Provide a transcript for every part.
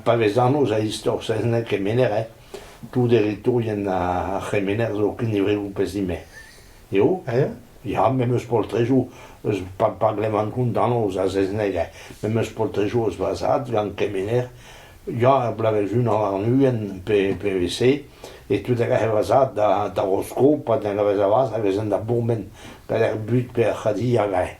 Pa vez anv-se a istor saozneg kemener eh tout eritourien ar c'hemener zo kinnivet ho pezh ime. Eo eh ya me 'm eus poltrejoù eus pa pa glevan kont anv a saozneg eh me 'm eus poltrejoù eus va zad gant kemener ya er bloavezh unan warn-ugent pe pe evit-se e tud a gav va zad da da Rosko pa da gavez a vazh a vezent da bourmen gant ar bud pe ar c'hadilha gae.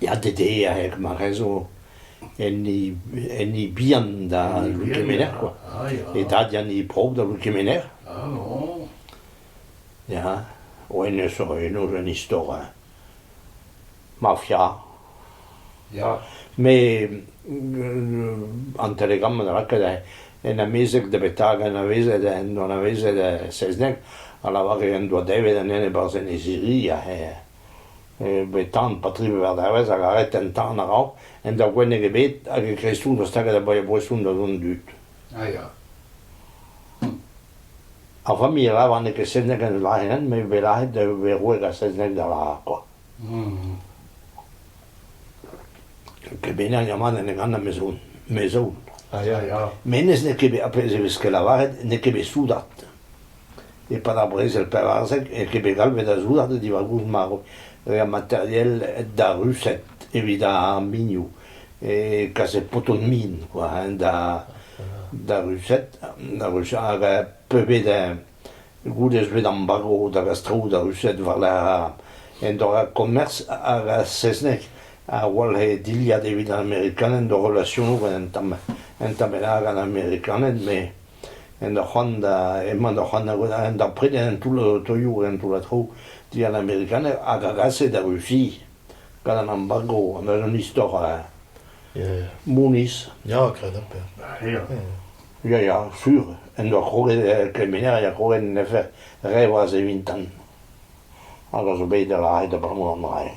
Ya ded eo er marezo enni enni bihan da Loue Kemener quoi, e dad ya 'ni prov da Loue Kemener. Ya, hennezh zo eno un istor mafia. Ya, met an telegramm a ra ket en amezeg davetañ anavezet en doa anavezet Selzneg a lavar en doa devet an ene e-barzh Enez-Iri met tan Patri Veur-Dervez a lâret an tan a-raok en doa gwenneg ebet hag e krestoù doa staget a-boesoù da dont dud. Ah ya. Ar familh a lavar n'eo ket selzneg en o lârenn met e vez lâret e vez roet ar selzneg da lâr quoi. Ket bennak avat ne ganan mezoù. Menez n'eo ket bet, ar pezh e veske lavaret, n'eo ket bet soudard. E-pad ar brezel pevarzek n'eo ket bet galvet da soudard diwar goust marv materiel da ruset evit ar minioù. E kaset poto min, quoi, da ruset, hag peubet Goude ez vez embargo da gastroù da Rused war-lerc'h an dorrad-komerz hag ar saozneg a walc'he dilhad evit an Amerikaned o relasionoù gant an Tamil an Tamil hag an Amerikaned met en ur c'hoant da emañ da c'hoant da prenañ an toull-toioù hag an toull-a traoù digant an Amerikaned hag a gase da Rusia gant an embargo n'eus un istor Mounis. Ya, graet amzer. Ya. Ya ya sur, en doa krouet kemenneriñ ha krouet en defe re vloaz e-vintan hag a zo bet da lâret abalamour d'an dra-se.